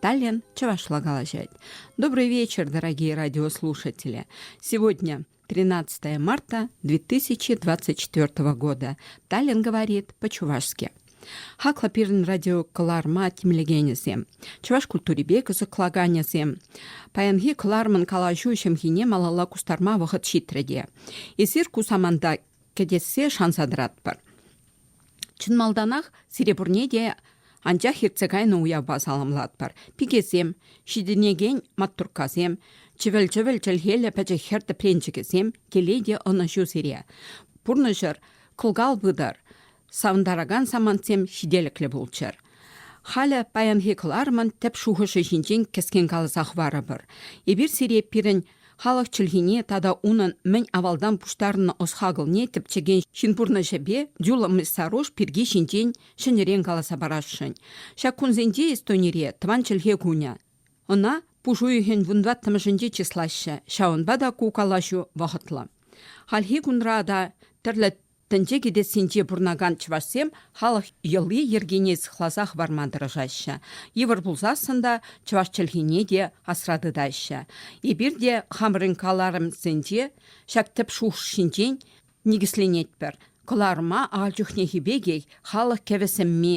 Таллин чӑвашла калаҫать. Добрый вечер, дорогие радиослушатели. Сегодня 13 марта 2024 года. Таллин говорит по-чувашски. Хаклӑ пирӗн радиокӑларӑма тимлекенӗсем, чӑваш культурипе кӑсӑклаканӗсем, паянхи кӑларӑмӑн калаҫу ҫӑмхине малалла кустарма вӑхӑт ҫитрӗ те. Эсир ку саманта кӗтессе шанса тӑратпӑр. Чӑн малтанах сире пурне те анчах ертсе кайнӑ уявпа саламлатпӑр. Пикесем, ҫитӗнекен маттурккасем, чӗвӗл-чӗвӗл чӗлхеллӗ пӗчӗк хӗр тӗпренчӗкӗсем, телей ӑнӑҫу сире. Пурнӑҫӑр кӑлкал пытӑр, савӑнтаракан самантсем ҫителӗклӗ пулччӑр. Халӗ паянхи кӑларӑмӑн тӗп шухӑшӗ ҫинчен кӗскен каласа хӑварӑпӑр. Эпир сире пирӗн халӑх чӗлхине тата унӑн мӗн авалтан пуҫтарӑннӑ ӑс-хакӑлне тӗпчекен ҫын пурнӑҫӗпе Дюла Мальсарош пирки ҫинчен ҫӗнӗрен каласа парасшӑн. Ҫак кунсенче Эстонире Тӑван чӗлхе кунӗ. Ӑна пуш уйӑхӗн вун тӑваттӑмӗшӗнче чыслаҫҫӗ, ҫавӑнпа та ку калаҫу вӑхӑтлӑ. Хальхи кунра та тӗрлӗ Тӗнче кӗтессинче пурӑнакан чӑвашсем халӑх йӑли-йӗркине сыхласа хӑварма тӑрӑшаҫҫӗ. Йывӑр пулсассӑн та чӑваш чӗлхине те асра тытаҫҫӗ. Эпир те хамӑрӑн каларӑмсенче ҫак тӗп шухӑш ҫинчен никӗсленетпӗр, кӑларӑма ахаль чухнехи пекех халӑх кӗвӗ сӗмми,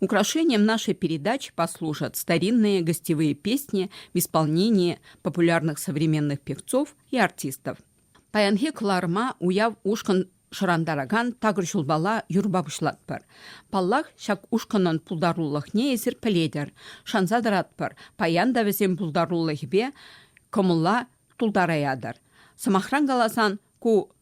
Украшением нашей передачи послужат старинные гостевые песни в исполнении популярных современных певцов и артистов. Паянхи кӑларӑма уяв ушкӑн шӑрантаракан такӑр ҫулпала юрпа пуҫлатпӑр. Паллах, ҫак ушкӑнӑн пултарулӑхне эсир пӗлетӗр, шанса тӑратпӑр, паян та вӗсен пултарулӑхӗпе кӑмӑла тултараятӑр. Сӑмахран каласан, ку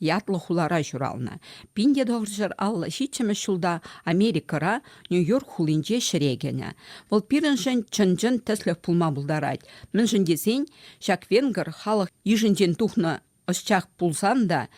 ятлӑ хулара ҫуралнӑ. Пин те тӑхӑрҫӗр аллӑ ҫиччӗмӗш ҫулта Америкӑра Нью-Йорк хулинче ҫӗре кӗнӗ. Вӑл пирӗншӗн чӑн-чӑн тӗслӗх пулма пултарать, мӗншӗн тесен ҫак венгр халӑх йышӗнчен тухнӑ ӑсчах пулсан та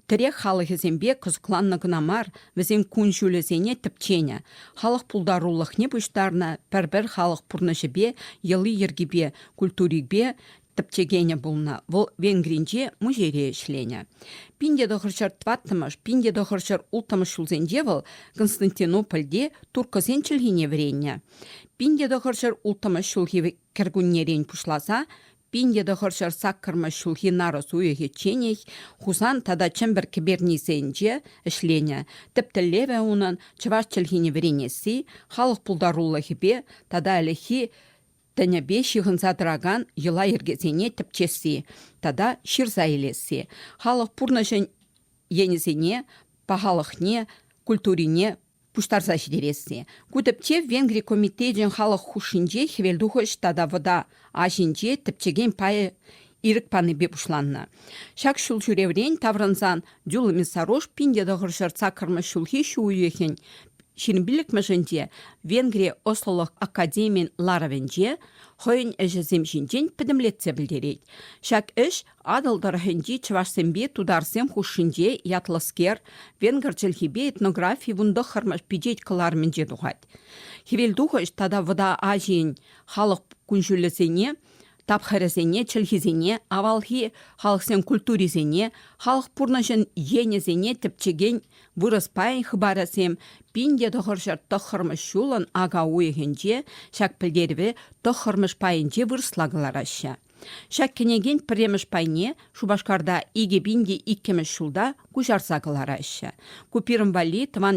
тӗрек халӑхӗсемпе кӑсӑкланнӑ кӑна мар, вӗсем кун-ҫулӗсене тӗпченӗ, халӑх пултарулӑхне пуҫтарнӑ, пӗр-пӗр халӑх пурнӑҫӗпе, йӑли-йӗркипе, культурипе, тӗпчекенӗ пулнӑ. Вӑл Венгринче музейре ӗҫленӗ. Пин те тӑхӑрҫӗр тӑваттӑмӗш, пин те тӑхӑрҫӗр улттӑмӗш ҫулсенче вӑл Константинопольте турккӑсен чӗлхине вӗреннӗ. Пин те тӑхӑрҫӗр улттӑмӗш ҫулхи кӗркуннерен пуҫласа пин те тӑхӑрҫӗр саккӑрмӗш ҫулхи нарӑс уйӑхӗчченех Хусан тата Чӗмпӗр кӗпернисенче ӗҫленӗ. Тӗп тӗллевӗ унӑн чӑваш чӗлхине вӗренесси, халӑх пултарулӑхӗпе тата ӗлӗкхи тӗнӗпе ҫыхӑнса тӑракан йӑла-йӗркесене тӗпчесси тата ҫырса илесси, халӑх пурнӑҫӗн енӗсене, пахалӑхне, культурине пуҫтарса ҫитересси. Ку тӗпчев Венгри комитечӗн халӑх хушшинче хӗвелтухӑҫ тата вӑта Аҫинче тӗпчекен пайӗ ирӗк панипе пуҫланнӑ. Ҫак ҫул ҫӳреврен таврӑнсан Дюла Мясорож пин тӑхӑрҫӗр саккӑрмӗш ҫулхи ҫу уйӑхӗн ҫирӗм пиллӗкмӗшӗнче Венгри ӑслӑлӑх академийӗн ларӑвӗнче хӑйӗн ӗҫӗсем ҫинчен пӗтӗмлетсе пӗлтерет. Ҫак ӗҫ Атӑл тӑрӑхӗнчи чӑвашсемпе тутарсем хушшинче ятлӑскер, венгр чӗлхипе этнографи вун тӑххӑрмӗш пичет кӑларӑмӗнче тухать. Хӗвелтухӑҫ тата Вӑта Азийӗн халӑх кун-ҫулӗсене тапхӑрӗсене, чӗлхисене, авалхи халӑхсен культурисене, халӑх пурнӑҫӗн енӗсене тӗпчекен вырӑс пайӗн хыпарӗсем пин те тӑхӑрҫӗр тӑххӑрмӗш ҫулӑн ака уйӑхӗнче ҫак пӗлтерӗве тӑххӑрмӗш пайӗнче вырӑсла кӑлараҫҫӗ. Ҫак кӗнекен пӗрремӗш пайне Шупашкарта икӗ пин те иккӗмӗш ҫулта куҫарса кӑлараҫҫӗ. Ку пирӗн валли тӑван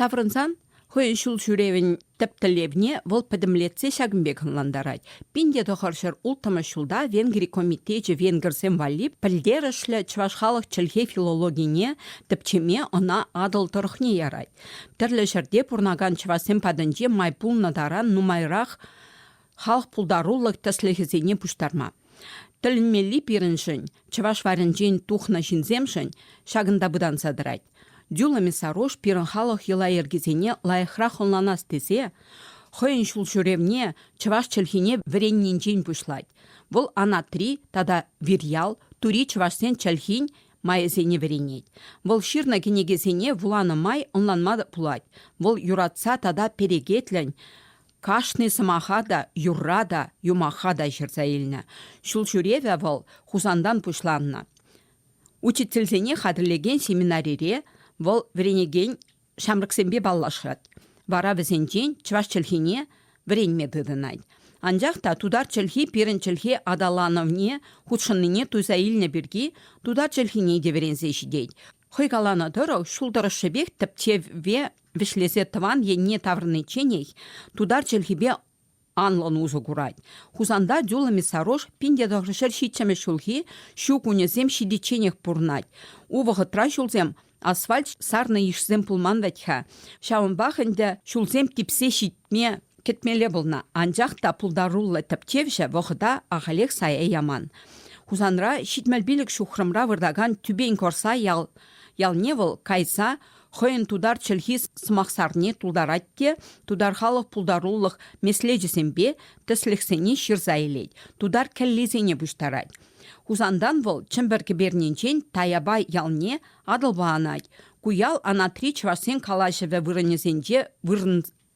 Таврӑнсан хӑйӗн ҫул ҫӳревӗн тӗп тӗллевне вӑл пӗтӗмлетсе ҫакӑн пек ӑнлантарать. Пин те тӑхӑр ҫӗр улттӑмӗш ҫулта Венгри комитечӗ венгерсем валли пӗлтерӗшлӗ чӑваш халӑх чӗлхе филологине тӗпчеме ӑна Атӑл тӑрӑхне ярать. Тӗрлӗ ҫӗрте пурӑнакан чӑвашсем патӗнче май пулнӑ таран нумайрах халӑх пултарулӑх тӗслӗхӗсене пуҫтарма. Тӗлӗнмелли пирӗншӗн, чӑваш варӗнчен тухнӑ ҫынсемшӗн ҫакӑнта пытанса тӑрать. Дюла мясорож пирӗн халӑх йӑла-йӗркисене лайӑхрах ӑнланас тесе хӑйӗн ҫулҫӳревне чӑваш чӗлхине вӗреннинчен пуҫлать. Вӑл Анатри тата Вирьял, Тури чӑвашсен чӗлхин майӗсене вӗренет. Вӑл ҫырнӑ кӗнекесене вуланӑ май ӑнланма пулать. Вӑл юратса тата перекетлӗн кашни сӑмаха та, юрра та, юмаха та ҫырса илнӗ. Ҫулҫӳреве вӑл Хусантан пуҫланнӑ. Учительсене хатӗрлекен семинарире вӑл вӗренекен ҫамрӑксемпе паллашрать. Вара вӗсенчен чӑваш чӗлхине вӗренме тытӑнать. Анчах та тутар чӗлхи пирӗн чӗлхе аталанӑвне хутшӑннине туйса илнӗ пирки тутар чӗлхине те вӗренсе ҫитет. Хӑй каланӑ тӑрӑх, ҫул тӑрӑшшӗпех тӗпчеве вӗҫлесе тӑван енне таврӑничченех тутар чӗлхипе Анлӑн усӑ курать. Хусанта Дюла Мясорож пин те тӑхӑрҫӗр ҫиччӗмӗш ҫулхи ҫу кунӗсем ҫитичченех пурӑнать. Ку вӑхӑтра ҫулсем асфальт сарнӑ йышсем пулман вӗт-ха. Ҫавӑнпах ӗнтӗ ҫулсем типсе ҫитме кӗтмелле пулнӑ. Анчах та пултаруллӑ тӗпчевҫӗ вӑхӑта ахалех сая яман. Хусанра ҫитмӗл пилӗк ҫухрӑмра выртакан Тюбень Корса ял ялне вӑл кайса хӑйӗн тутар чӗлхи сӑмахсарне тултарать те тутар халӑх пултарулӑх меслечӗсемпе тӗслӗхсене ҫырса илет, тутар кӗллисене пуҫтарать. Хусантан вӑл Чӗмпӗр кӗпернинчен Таяпа ялне Атӑлпа анать. Ку ял Анатри чӑвашсен калаҫӑвӗ вырӑнӗсенче вырӑн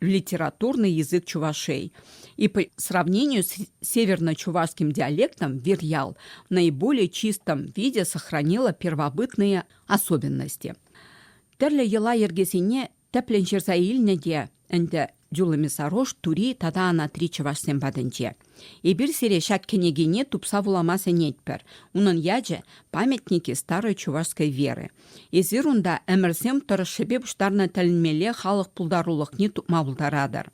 литературный язык чувашей. И по сравнению с северно-чувашским диалектом Вирьял в наиболее чистом виде сохранила первобытные особенности. Терлӗ йӑла йӗркесене тӗплӗн ҫырса илнӗ те ӗнтӗ Дюломисарож Тури тата ана три чӑвашсем патӗнче. Эпир сире ҫак кӗнекене тупса вулама сӗнетпӗр. Унӑн ячӗ, Памятники старой чувашской веры. Эсир унта ӗмӗрсем тӑрӑшшӗпе пуҫтарнӑ тӗлӗнмелле халӑх пултарулӑхне тупма пултаратӑр.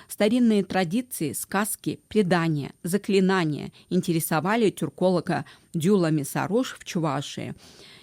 Старинные традиции, сказки, предания, заклинания интересовали тюрколога Дюла Мясорож в Чувашии.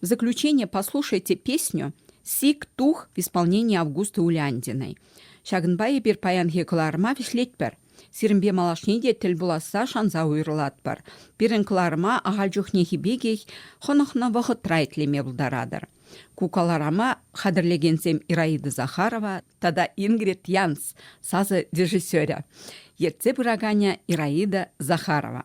В заключение послушайте песню «Сик тух» в исполнении Августы Уляндиной. Ҫакӑнпа эпир паянхи кӑларӑма вӗҫлетпӗр. Сирӗнпе малашне те тӗл пуласса шанса уйрӑлатпӑр. Пирӗн кӑларӑма ахаль чухнехи пекех хӑнӑхнӑ вӑхӑтра итлеме пултаратӑр. Ку каларӑма хатӗрлекенсем Ираида Захарова тата Ингрид Янс, сасӑ режиссерӗ, ертсе пыраканӗ Ираида Захарова.